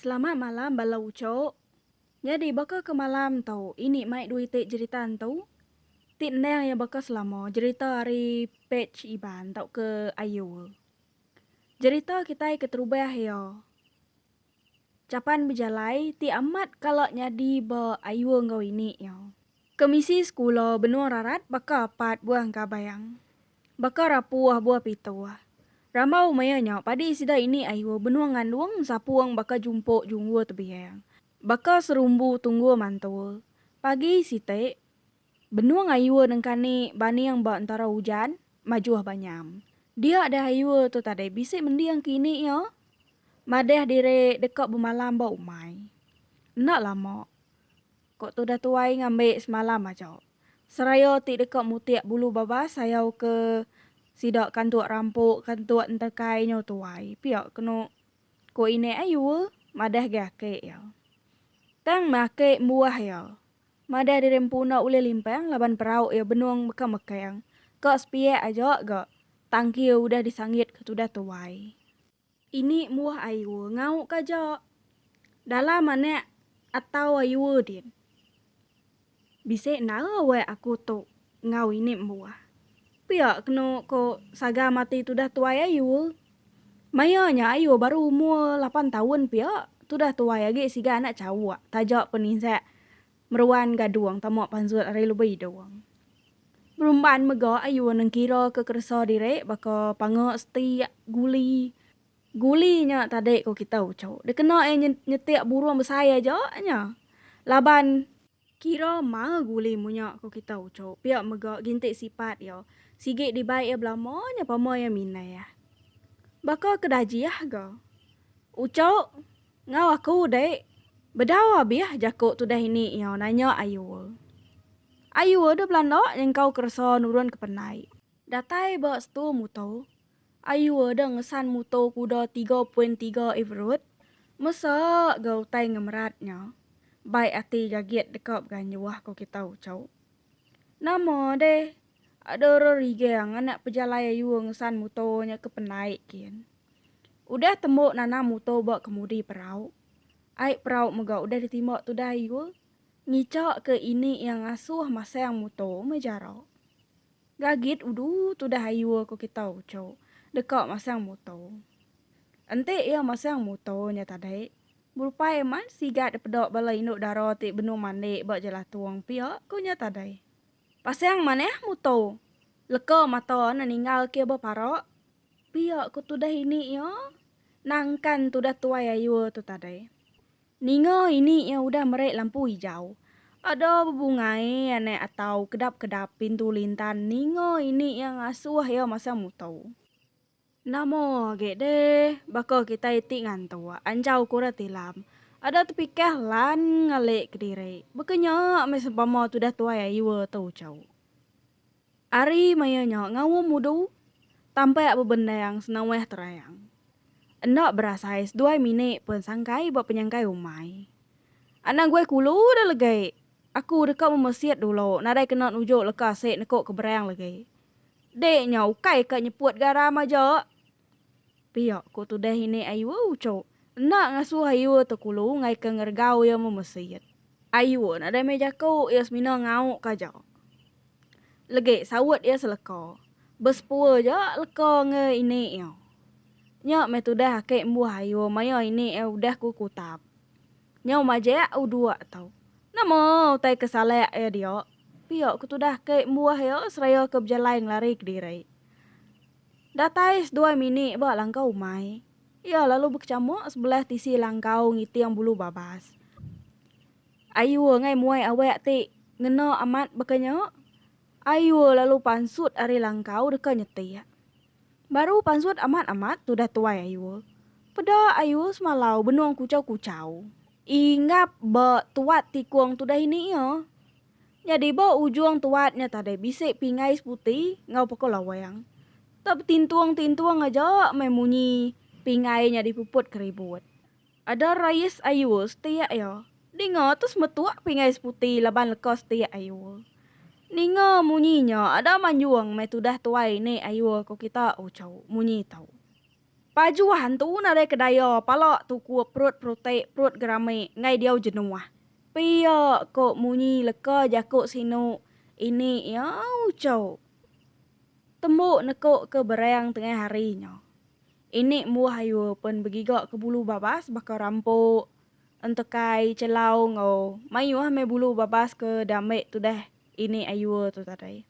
Selamat malam bala ucok. Nyadi baka ke malam tu ini mai dui ti jerita entu ti endang iya baka selama jerita ari page Iban tauka Ayul. Jerita kitai keterubah iya Chapan Bejalai ti amat kala nyadi ba Ayul enggau ini iya. Kemisi sekula benung rarat baka apat buah engka bayang. Baka rapu ah buah pitu ah. Rambau maya nya padi sida ini ayu benung ngandung ensapung baka jumpuk junggur tebiang. Baka serumbu tunggur mantul. Pagi siti, benung ayu nengka ni baning ba entara ujan, majuh ba nyam. Dia deh ayu tu tadi bisi mending ke ini iya. Madah diri deka bemalam ba umai. Enda lama. Ko tudah tuai ngambi semalam aja. Seraya ti deka mutik bulu babas sayau ke sida kantuk rampok kantuk enterkai nyo tuai pia keno ko inek ai yue madah agi aki iya. Tang meh aki embuah iya madah diri empu enda ulih limpang laban perauk iya benong beka mekang ka sepiak aja ga tangki udah disanggit ke tudah tuai. Ini buah ayua ngau ka ja. Dalam anak atau ayua din. Bisi endara weh aku tu ngau ini buah. Pia kenu ko saga mati tudah tuai ayua. Maya nya ayua baru umur lapan taun pia tudah tuai agi siga anak chauk taja peninzak Meruan gadung tama panzut ari lebi dung. Berumban mega ayu nengkira ke keresa diri baka panga setik, guli, guli nya tadi ko kita uchu dikena iya nyetik burung besai aja nya laban. Kira maa guli munya ko kita uchu pia mega ginti sipat iya sigi dibai iya belama nya pama iya mindah baka ke dajih ga uchu. Enggau aku dek. Bedau abih jaku tudah ini nyau nanya Ayua. Ayua deh belanda nyengkau keresa nurun ke pendai. Datai ba setu muto. Ayua deh ngesan muto kuda tiga poin tiga Evirut mesa ga utai ngemerat nya. Baik ati gagit deka beganjuh ko kita Ucok. Nama deh ada orang rigang anak pejalai ayua ngesan muto nya ke pendai kin. Udah tembo nanam muto ba kemudi perau. Ai perau mega udah ditimba tudah ayua, ngica ke ini iya ngasuh masang muto meh jara. Gagit udu tudah ayua ko kita ucho deka masang muto. Enti iya masang muto nya tadi. Berupai amat sigat dipeda bala indu dara ti benung mandi ba jelatung pia ku nya tadai. Pasang manah muto, leka mata neninggal ke bepara pia ku tudah ini iya nangkan tudah tuai ayur tu tadai. Ninga ini iya udah meri lampu ijau. Ada bebungai anak atau kedap-kedap pintu lintan ninga ini iya ngasuh iya masang muto. Nama agi deh baka kitai ti ngantuk anjau ku orang tilam. Ada tepikah lan ngali kediri. Baka nya meh sempama tudah tuai Ayua tu chau. Ari maya nya ngaum mudu, tampak bebendang senawah terang. Enda berasai seduai minit pun sangkai ba penyangkai umai. Anang guai kulu dah legi. Aku deka memesit dulu nadai kena nuju leka asik neku keberang legi. Dek nya ukai ka nyeput garam aja. Pia ku tudah ini Ayua uchu enda ngasuh Ayua tekulu ngaika ngeregau iya memesit. Ayua nadai meh jaku iya semina ngau ka aja. Legi saut iya seleka, besepua aja leka enggei ini iya. Nya meh tudah aki embuh Ayua maya ini iya udah ku kutap. Nyau majak uduk tu. Nama utai ke salak iya diak? Pia ku tudah ke embuah iya seraya ke bejalai ngelari kediri. Datai seduai mini ba langkau umai, iya lalu bekecamuk sebelah tisi langkau ngiting bulu babas. Ayu engai muai awak ti ngena amat baka nya. Ayu lalu pansut ari langkau deka nyetik. Baru pansut amat amat tudah tuai ayul. Peda ayul semalau benung kuchau kuchau. Inggap ba tuat tikung tudah ini ia. Nyadi ba ujung tuat nya tadai bisi pingai seputi enggau pekau lawang. Tau betintung tintung aja meh munyi pingai nya dipuput ke ribut. Ada rais ayul setiak iya. Ninga tu semetuk pingai seputi laban leka setiak ayul. Ninga munyi nya ada manjung meh tudah tuai ni ayul ko kita ucau munyi tu. Pajuh antu nadai ke daya pala tukup perut perutik perut gerami ngai diau jenuh. Pia ko munyi leka jaku sinu ini iya ucau tembu neko ke berang tengah hari nya. Inik muah ayu pen begiga ke bulu babas baka rampok, entekai, celau enggau mayuh meh bulu babas ke diambi tudah inik ayu tu tadi.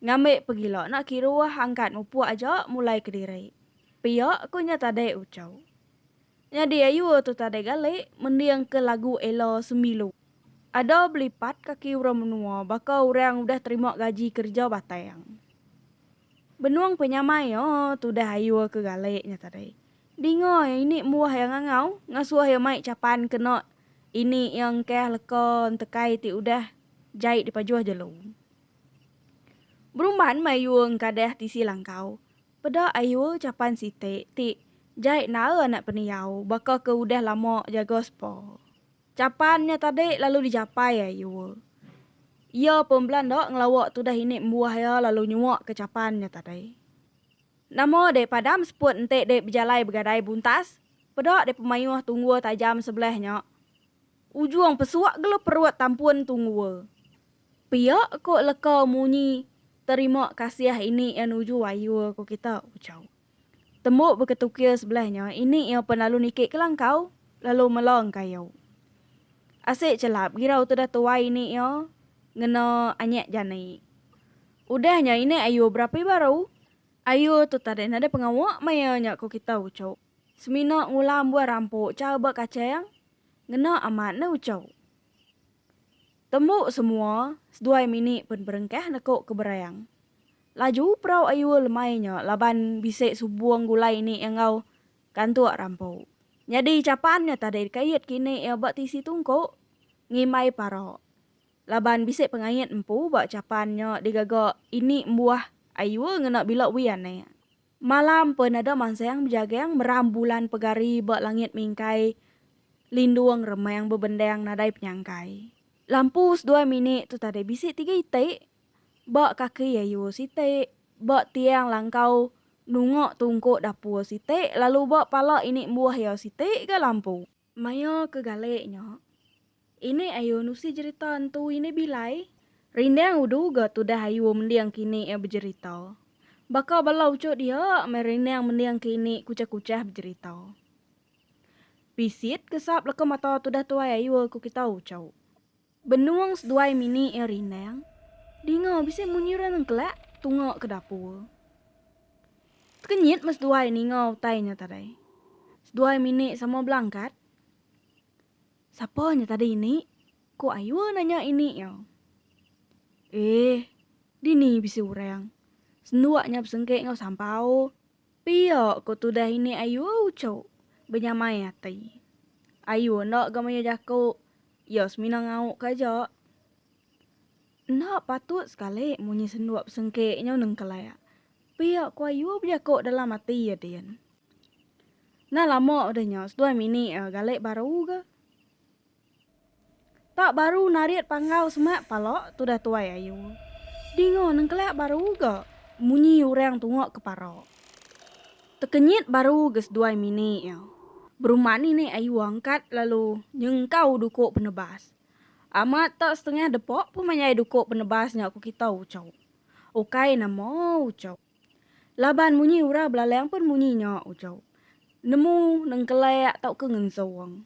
Ngambi pegila enda kiruh angkat mupuk aja mulai kediri. Pia ku nya tadi uchu. Nyadi ayu tu tadi gali mending ke lagu Ella Sembilu. Ada belipat kaki orang menua baka orang udah terima gaji kerja batang. Benung penyamai o tudah ayu ke galik nya tadi. Dinga iya ini mbuah iya ngangau ngasuh iya mai chapan kena ini iya engkah leka entekai ti udah jai dipajuh jelu. Berumban meh ayu engkadah tisi langkau. Peda ayu chapan siti ti jai nae anak pendiau baka ke udah lama jaga sepa. Capan nya tadi lalu dijapai ai Yue. Iya pun belanda ngelawa tudah ini embuah iya lalu nyuak ke capan nya tadi. Nama dek padam seput enti dek bejalai begadai buntas, peda dek pemayuh tunggul tajam sebelah nya. Ujung pesuk gelu perut tampun tunggul. Pia ko leka munyi terima kasih ini iya nuju ai Yue ko kita, ucau. Tembu beketukir sebelah nya ini iya pen lalu niki kelangkau lalu melong kayu. Asik chelap girau tudah tuai ini iya ngena anyek jani. Udah nya ini ayu berapi baru. Ayu tu tadi nadai pengawa maya nya ko kita uchu. Semina ngulam buah rampu cha ba kacheng. Ngena amat ne uchu. Tembu semua seduai mini pen perengkah neko ke Berayang. Laju perau Ayue lemai nya laban bisi subung gulai ni enggau kantuk rampu. Nyadi chapan nya tadi dikait kini ia ba tisi tungku ngimbai para laban bisi pengait empu ba chapan nya digaga ini embuah Ayue ngena bila wee anak. Malam pen ada mansang bejagang meram bulan pegari ba langit mingkai lindung remang bebendang nadai penyangkai. Lampu seduai minik tu tadi bisi tiga iti ba kaki ayu siti ba tiang langkau nunga tungku dapur siti lalu ba pala ini embuh iya siti ga lampu. Maya ke galek nya, Inik Ayu nusi jerita entu Inik Bilai. Rindang udu ga tudah Ayu mending ke Inik iya bejerita. Baka bala uchot iya, meh rindang mending ke Inik kuchah-kuchah bejerita. Bisit ke sap leka mata tudah tuai Ayu ku kita uchauk. Benung seduai mini iya rindang, dinga bisi munyi orang nengkelak tunga ke dapur. Tekenyit meh seduai ninga utai nya tadi. Seduai mini sama belangkat. Sapa nya tadi ini? ku Ayue nanya ini iya. Eh, dini bisi orang. Senduk nya besengkek enggau sampau. Pia ko tudah ini ayu uchu benyamai ati. Ayu enda ga maya jaku iya semina ngauk ka aja. Enda patut sekali munyi senduak besengkik nyau nengkelak. Pia ko ayu bejaku dalam ati iya din. Nah lama udah nya seduai mini iya galik baru ga. Tak baru narit panggau semak pala tudah tuai ayu. Dinga nengkelak baru ga munyi orang tungak ke para. Tekenyit baru ga seduai mini iya. Berumah ni ni ayu angkat lalu nyengkau duko penebas. Amat tak setengah depa pun mayai duko penebas nya ku kita ucho. Ukai nama ucho. Laban munyi orang belalang pun munyi nya ucho. Nemu nengkelak tauka ngensong.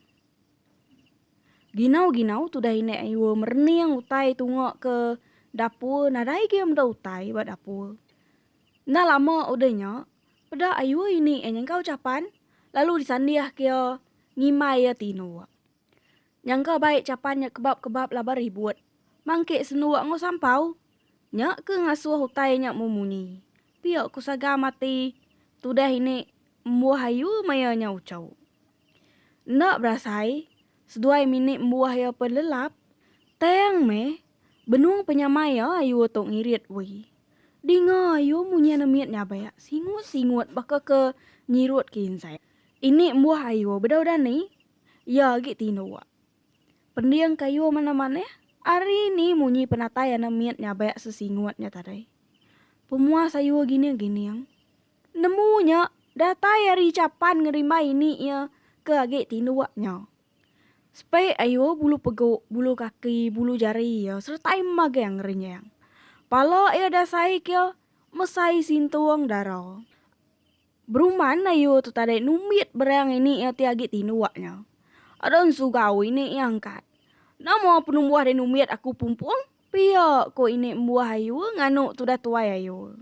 Ginau-ginau tudah inek ayua merening utai tunga ke dapur nadai gia meda utai ba dapur. Enda lama udah nya, peda ayua ini iya nyengkau chapan lalu disandih ke iya ngimbai iya ti nuak. Nyangka baik chapan nya kebap-kebap laban ribut mangkik senuak enggau sampau. Nya ke ngasuh utai nya memunyi. Pia ku sagam ati tudah inek embuh ayua maya nya uchau. Enda berasai, seduai minit embuah iya pen lelap, tang meh benung penyamai iya ayu tu ngirit we. Dinga ayu munyi anak mit nyabak singut-singut baka ke nyirut ke insek. Ini embuah ayu bedau dani, iya agi tinduk. Pending ke ayu manah-manah, ari ni munyi penatai anak mit nyabak sesingut nya tadi. Pemuas ayu gining-gining. Nemu nya datai ari chapan ngerimbai ini iya ke agi tinduk nya. Spek ayu bulu pegu, bulu kaki, bulu jari iya seretai magang renjang. Pala iya dasai ke mesai sintung dara. Beruman ayu tu tadai numbit berang ini iya ti agi tinduk nya. Ada ensugau ini iya angkat. Nama penumbuh deh numbit aku pumpung? Pia, ku ini embuah ayu nganu tudah tuai ayu.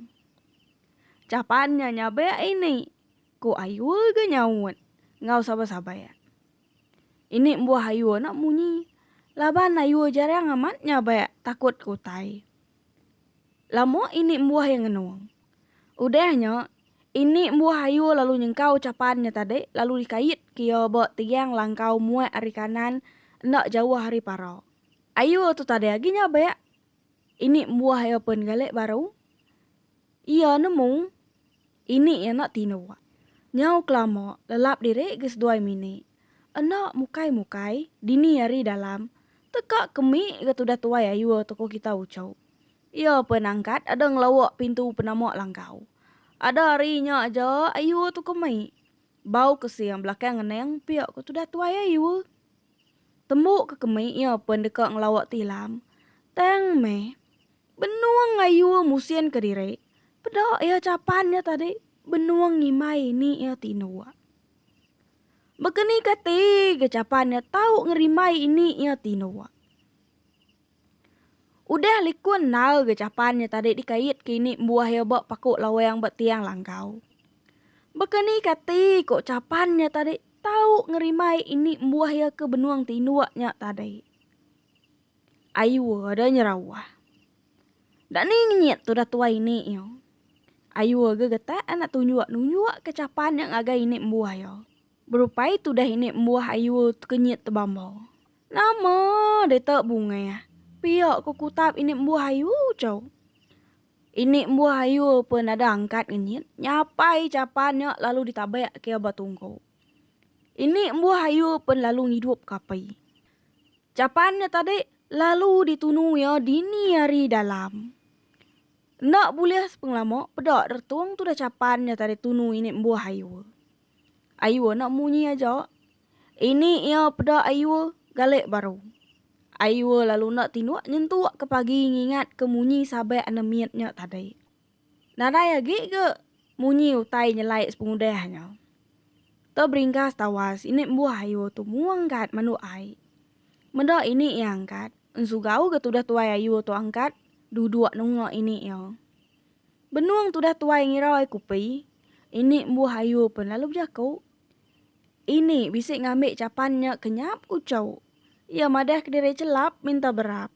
Capan nya nyabek ini, ku ayu ga nyaut enggau sabai-sabai. Ini embuah ayu enda munyi laban ayu jarang amat nyabek takut ke utai. Lama ini embuah iya ngenung. Udah nya, ini embuah ayu lalu nyengkau capan nya tadi lalu dikait ke iya ba tiang langkau muak ari kanan enda jauh ari para. Ayu tu tadi agi nyabek. Ini buah iya pen gale baru. Iya nemu ini iya enda tinu. Nyau kelama lelap diri ke seduai mini. Enda mukai mukai dini ari dalam teka kemi ga tudah tuai ayu tu ko kita uchu. Iya pen angkat ada ngelawak pintu penama langkau. Ada ari nya aja ayu tu kemi. Bau kesia belakang ngeneng pia ko tudah tuai ayu. Tembu ke kemi iya pen deka ngelawa ti ilam, tang meh benung ngayu musinka diri peda iya chapan nya tadi benung ngimbai ni iya ti indua. Baka ni kati ga chapan iya tau ngerimbai ini iya ti indua. Udah likun nal ga capan nya tadi dikait ke ini embuah iya ba paku lawang ba tiang langkau. Baka ni kati ko capan nya tadi tau ngerimai ini embuah iya ke benung tinduk nya tadi. Ayuh ada nyerawah. Dak ni ngenyit tudah tuai ini iya. Ayuh aga getak anak tunjuk nunjuk ke capan nya ngagai ini embuah iya. Berupai tudah ini embuah ayuh kenyit tebambau. Nama deka bungah pia ku kutap ini embuh ayu chau. Ini embuh ayu pun ada angkat ngenyit nyapai chapan nya lalu ditabak ke ba tungku. Ini embuh ayu pun lalu ngidup ke api. Chapan nya tadi lalu ditunu iya dini ari dalam. Enda bulih sepengelama peda retung tudah chapan nya tadi tunu ini embuh ayu. Ayu anak munyi aja. Ini iya peda Aiwa galik baru. Aiwa lalu enda tinduk nyentuk ke pagi ngingatka munyi sabak anak mit nya tadi. Nadai agi ga munyi utai nyelai sepengudah nya. Te beringgas tawas ini embuh Aiwa tu mua angkat manduk ai. Meda ini iya angkat, ensugau ga tudah tuai Aiwa tu angkat duduk nunga ini iya. Benung tudah tuai ngira ai kupi, ini embuh Aiwa pen lalu bejaku. Ini bisi ngambi chapan nya kenyap uchau. Iya madah kediri chelap minta berap.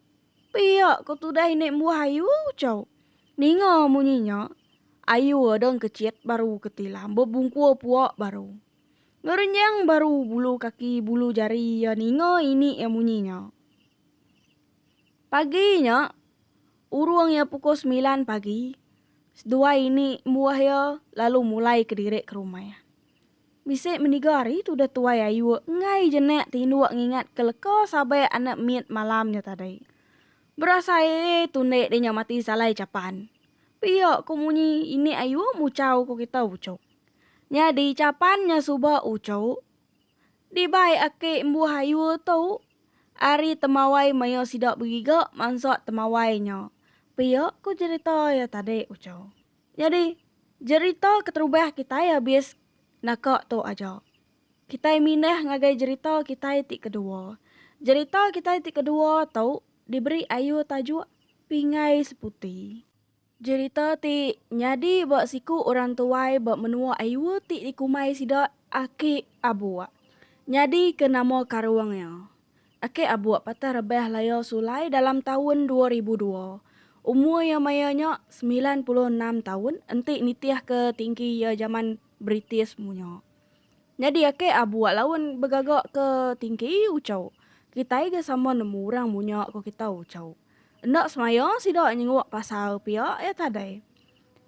Pia ko tudah ini embuh ayu uchau. Ninga munyi nya, ayu adang kechit baru ketilam bebungkur pua baru. Ngerenjang baru bulu kaki bulu jari iya ninga ini iya munyi nya. Pagi nya. Urung iya pukul semilan pagi, seduai ini embuah iya lalu mulai kediri ke rumah. Bisi meniga hari tu deh Tuai Ayuk enggai jenak ti indu ngingat ke leka sabai anak mit malam nya tadi. Berasai ee tu ende deh nya mati salai chapan. Pia ko munyi ini Ayuk muchau ko kita uchup. Nyadi chapan nya suba uchup Dibai aki embuh ayu tu ari Temawai maioh sida begiga mansa Temawai nya. Pia ku jerita iya tadi uco. Nyadi jerita keterubah kitai abis naka tu aja. Kitai mindah ngagai jerita kitai ti kedua. Jerita kitai ti kedua tu diberi ayu tajuk Pingai Seputi. Jerita ti nyadi ba siku orang tuai ba menua Aiwo ti dikumbai sida Aki Abuk. Nyadi ke nama karung iya, Aki Abuk patah rebah laya sulai dalam taun dua ribu dua. Umur iya maya nya semilan puluh enam taun enti nitih ke tinggi iya jaman British munya. Nyadi Aki Abuk laun begaga ke tinggi Uchuk. Kitai ga sama nemu orang munya ko kita Uchuk. Enda semaya sida nyenguk pasal pia iya tadai.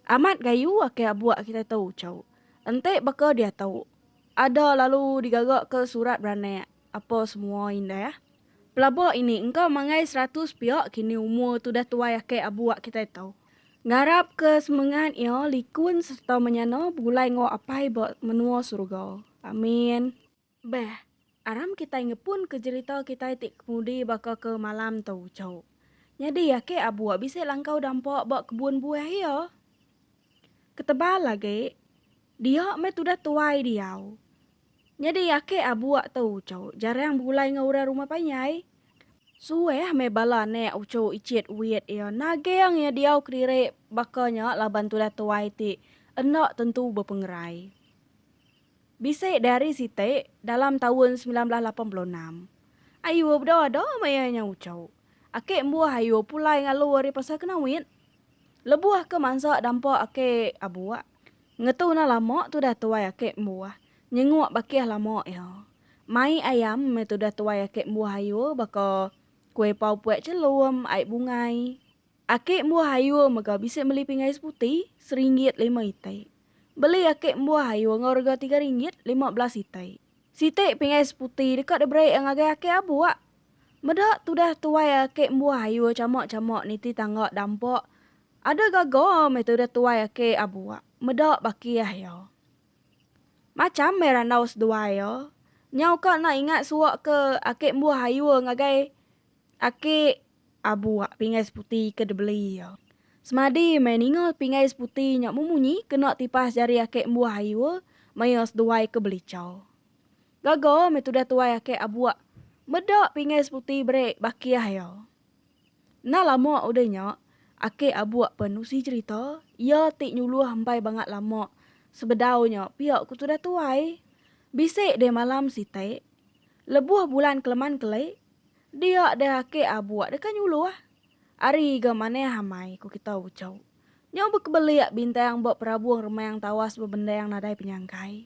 Amat gayu aka abuak kitai tu ucau. Enti baka diatu, ada lalu digagaka surat beranak apa semua indah. Pelaba ini engka manggai seratus pia kini umur tudah tuai aka abuak kitai tu. Ngarapka semengat iya likun serta menyana begulai enggau Apai ba menua suruga. Amin. Beh, aram kitai ngepunka jerita kitai ti kemudi baka ke malam tu, Chou. Nyadi ake abuk bisi langkau dampa ba kebun buah iya. Ketebal agi, dia meh tudah tuai diau. Nyadi ake abuk tu, Chou, jarang begulai enggau orang rumah panjai. Suah meh bala anak Ucho icit wit iya naging iya diau kediri baka nya laban tudah tuai ti enda tentu bepengerai. Bisi diari siti dalam taun semilan belas lapan puluh enam. Ayu beda ada maya nya uchu. Aki embuh ayu pulai ngalu ari pasar ke Nawit. Lebuh ke mansa dampa aki abuk. Ngetu enda lama tudah tuai aki embuh nyenguk bakih lama iya. Mai ayam meh tudah tuai aki embuh ayu baka kuih pau puek chelum, ai bungai. Aki embuah ayur mega bisi meli pinggai seputi seringgit lima itai. Beli aki embuah ayur enggau rega tiga ringgit lima belas itai. Siti pinggai seputi deka diberi iya ngagai aki abuk. Meda tudah tuai aki embuah ayur chama-chama niti tangga dampa ada gaga meh tudah tuai aki abuk meda baki ah iya. Macham meh randau seduai iya. Nyau ka enda ingat suaka aki embuah ayur ngagai aki Abuak pingai seputi ke dibeli iya. Semadi meh ninga pingai seputi nya memunyi kena tipas jari ake embuh ayu maya seduai ke belichau. Gaga meh tudah tuai ake Abuak meda pingai seputi berik bakih iya. Enda lama udah nya, ake Abuak pen nusi cherita iya ti nyuluh empai bangat lama sebedau nya pia ku tudah tuai. Bisi deh malam siti, lebuh bulan keleman kelik, Dia deh ake abuk deka nyulu ah. Ari ga maneh amai ku kita ucau. Nyau bekebelik bintang ba perabung remang tawas bebendang nadai penyangkai.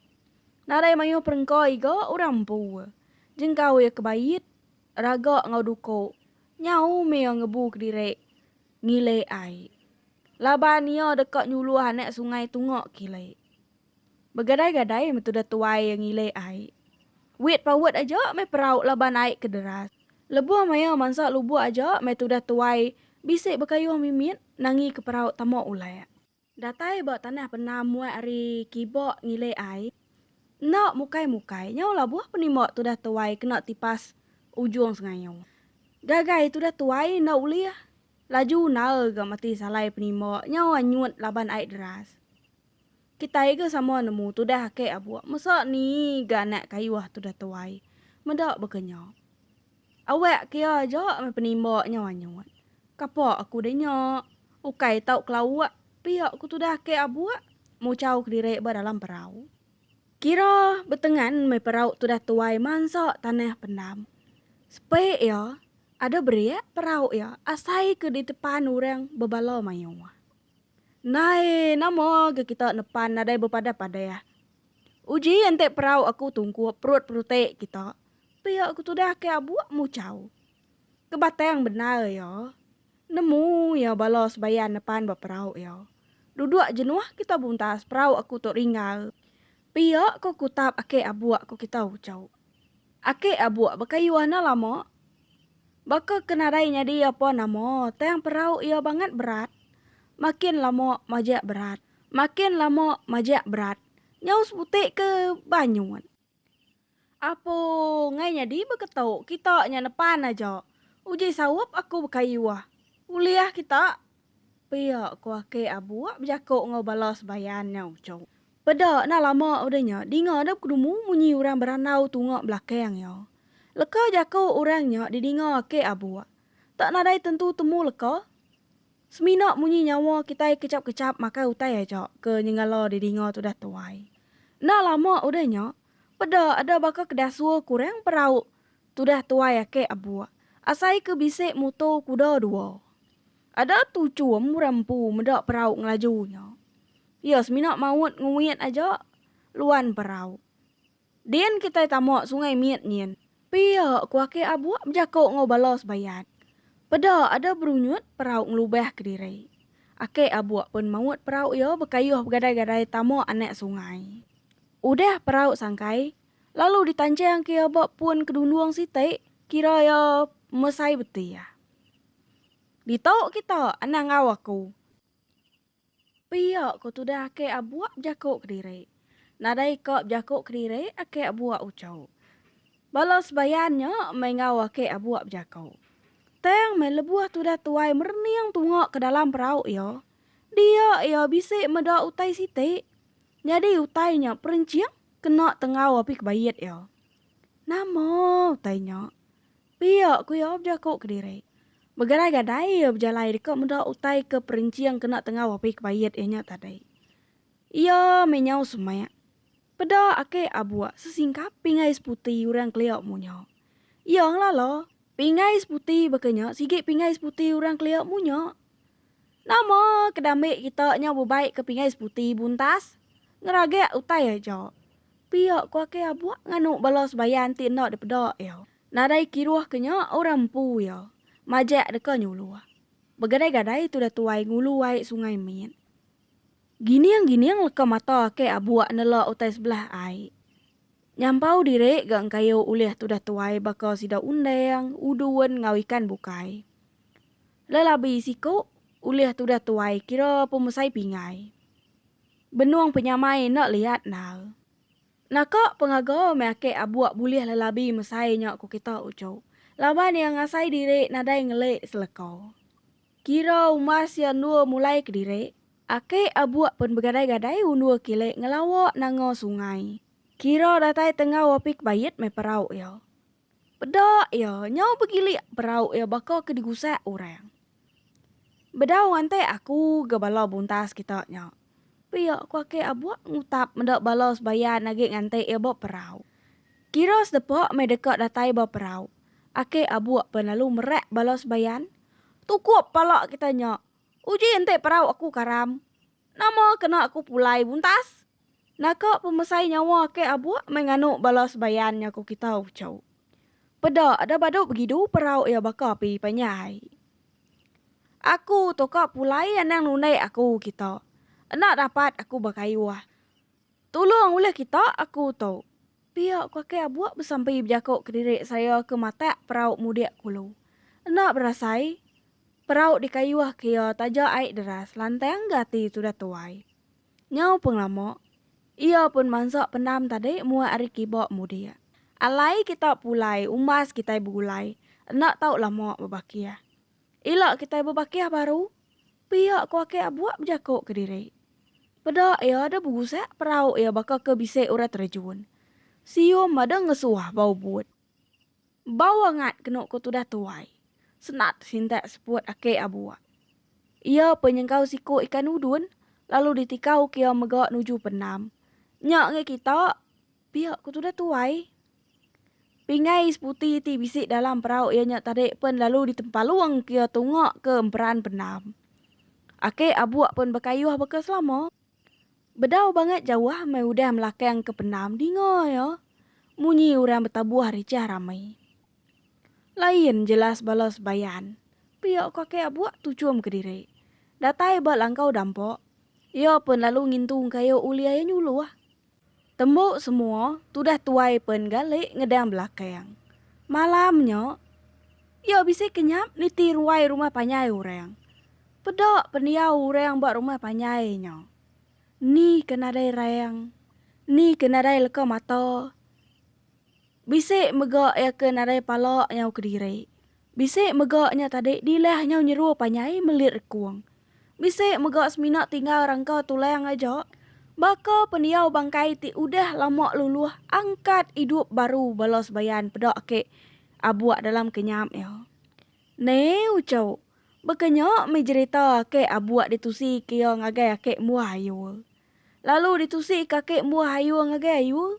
Nadai mayuh perengka iga orang empu. Jengkau ia ke bait, raga enggau duko nyau meh ia ngebu kediri ngilek ai. Laban ia deka nyuluh anak sungai tunga kilek. Begadai-gadai meh tudah tuai ngilih ai. Wit paut aja meh perau laban ai ke deras. Lebuh maya mansa lubuk aja meh tudah tuai bisi bekayuh mimit nangi ke perau tama ulek. Datai ba tanah penam muat ari kiba ngilih ai. Enda mukai-mukai nyau labuh penimba tudah tuai kena tipas ujung sengayu. Gagai tudah tuai enda ulih laju naal ga mati salai penimba nyau anyut laban ai deras. Kitai ga sama nemu tudah ake abuk mesa ni ga anak kayuh tudah tuai meda baka nya. Awak ke iya aja meh penimba nyau anyut. Kapa aku deh nya. Ukai tau kelauk pia ku tudah ake abuk muchau kediri ba dalam perau. Kira betengan meh perau tudah tuai mansa tanah pendam. Sepek iya ada berik perau iya asai ke ditepan orang bebala mayuh. Nai, nama ga kita nepan nadai bepadah-padah. Uji enti perau aku tungkup perut peruti kita, pia aku tudah ke abuk muchau. Ke batang bendar iya, nemu iya bala sebayan nepan ba perau iya. Duduk jenuh kita buntas perau aku tu ringgar. Pia ko kutap aki abuk ko kita uchu. Aki abuk bekayuh enda lama. Baka ke nadai nyadi iya pun nama, tang perau iya bangat berat. Makin lama majak berat. Makin lama majak berat. Nyau sebutik ke banyut. Apoo ngai nyadi beketu kita nya nepan aja. Uji saup aku bekayuh. Ulih kita. Pia ku aki abuk bejako enggau bala sebayan nya uchu. Peda nah lama udah nya dinga dep kedumu munyi orang berandau tunga belakang iya. Leka jaku orang nya didinga ake abuk. Tak nadai tentu temu leka. Semina munyi nyawa kitai kechap-kechap makai utai aja ke nyengala didinga tudah tuai. Enda lama udah nya, peda ada baka ke dasur ke orang perauk tudah tuai ake abuk asai ke bisi muto kuda dua. Ada tuchum orang empu meda perauk ngelaju nya. Iya semina maut nguit aja luan perau. Din kitai tama sungai mit nyin. Pia ku Akeh Abuk bejako enggau bala sebayat. Peda ada berunyut perau ngelubah kediri. Akeh Abuk pun maut perau iya bekayuh begadai-gadai tama anak sungai. Udah perau sangkai, lalu ditanchang ke iya ba pun kedundung siti kira iya mesai beti ah. Ditu kita anang enggau aku. Pia ko tudah ake abuak bejako kediri. Nadai ka bejako kediri ake abuak uco. Bala sebayan nya meh enggau ake abuak bejako. Tang meh lebuh tudah tuai merening tunga ke dalam perau iya, dia iya bisi meda utai siti. Nyadi utai nya perenching kena tenggau api kebait iya. Nama utai nya? Pia ku iya bejaku kediri. Begadai-gadai iya bejalai deka meda utai ke perenching kena tengau api kebait iya nya tadi. Iya meh nyau semak. Peda ake abuk sesingkap pingai seputi orang kelia munya. Iya ngelala, pingai seputi baka nya sigi pingai seputi orang kelia munya. Nama ke dambe kita nyau bebai ke pingai seputi buntas? Ngeragak utai aja. Pia ku ake abuk nganu bala sebayan ti enda dipeda iya. Nadai kiruh ke nya orang empu iya. Majak deka nyuluh. Begadai-gadai tudah tuai ngulu ai sungai mit. Gining-gining leka mata ake abuk nela utai sebelah ai. Nyampau diri ga engkayu ulih tudah tuai baka sida undang, udun enggau ikan bukai. Lelabi siku, ulih tudah tuai kira pemesai pingai. Benung penyamai enda liat endar. Naka pengaga meh ake abuk bulih lelabi mesai nya ku kita uchu laban iya ngasai diri nadai ngeli seleka. Kira umbas iya endur mulai kediri, ake abuk pen begadai-gadai undur kili ngelawa nanga sungai. Kira datai tenggau api kebait meh perau iya. Peda iya nyau begilik perau iya baka ke digusak orang. Bedau ngantai aku ga bala buntas kita nya. Pia ku Akei Abuk ngutap meda bala sebayan agi nganti iya ba perau. Kira sedepa meh deka datai ba perau. Akei Abuk pen lalu merak bala sebayan. Tukup pala kita nya. Uji enti perau aku karam. Nama kena aku pulai buntas? Naka pemesai nyawa ke abuk meh nganu bala sebayan nya ku kita uchu. Peda ada badu begidu perau iya baka api panyai. Aku tu ka pulai anang nundai aku kita. Enda dapat aku bakayuh. Tulung ulih kita, aku tu. Pia ku Akei Abuk besampi bejaku kediri saya ke matak perau mudik kulu. Enda berasai, perau dikayuh ke iya taja ai deras lantang gati tudah tuai. Nyau pengelama, iya pun mansa pendam tadi muat ari kiba mudik. Alai kita pulai umbas kitai begulai, enda tau lama bebakih. Ila kitai bebakih baru, pia ko Akei Abuk bejako ke diri. Peda iya da berusak perau iya baka ke bisi orang terejun. Sium ada ngesuah bau but. Bau angat kenu ko tudah tuai. Senat sintak seput Akei Abuk. Iya pe nyengkau siko ikan udun lalu ditikau ke iya mega nuju penam. Nya ngai kita. Pia ku tudah tuai. Pingai seputi ti bisi dalam perau iya nya tadi pen lalu ditempalung ke iya tunga ke emperan pendam. Ake abuk pen bekayuh baka selama. Bedau bangat jauh meh udah melakang ke pendam dinga iya munyi orang betabuh richah rami. Lain jelas bala sebayan, pia ku ake abuk tuchum kediri. Datai ba langkau dampa, iya pen lalu ngintu engkayu ulih iya nyuluh. Tembu semua tudah tuai pen gali ngedang belakang. Malam nya, iya bisi kenyap niti ruai rumah panjai orang. Peda pendiau orang ba rumah panjai nya. Ni ke nadai rang, ni ke nadai leka mata. Bisi mega iya ke nadai pala nyau kediri. Bisi mega nya tadi dilah nyau nyeru panjai melit rekung. Bisi mega semina tinggal rangka tulang aja baka pendiau bangkai ti udah lama luluh angkat idup baru bala sebayan peda agi abuk dalam kenyap iya. Neu cheu, baka nya mih jerita agi abuk ditusi ke iya ngagai agi embuh ayur. Lalu ditusi ke agi embuh ayur ngagai ayur,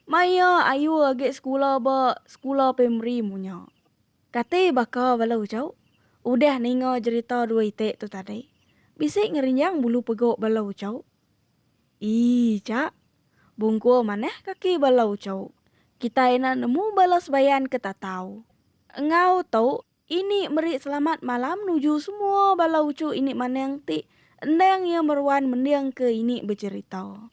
mai iya ayur agi sekula ba sekula primari munyak. Kati baka bala ujuk udah ninga jerita dua iti tu tadi, bisi ngerinjang bulu pegok bala ujuk. Ii ja. Bungkur manah kaki bala ujuk. Kitai enda nemu bala sebayan ke tatau. Enggau tu, ini meri selamat malam nuju semua bala ujuk ini manang ti endang iya meruan mendingka ini bejerita.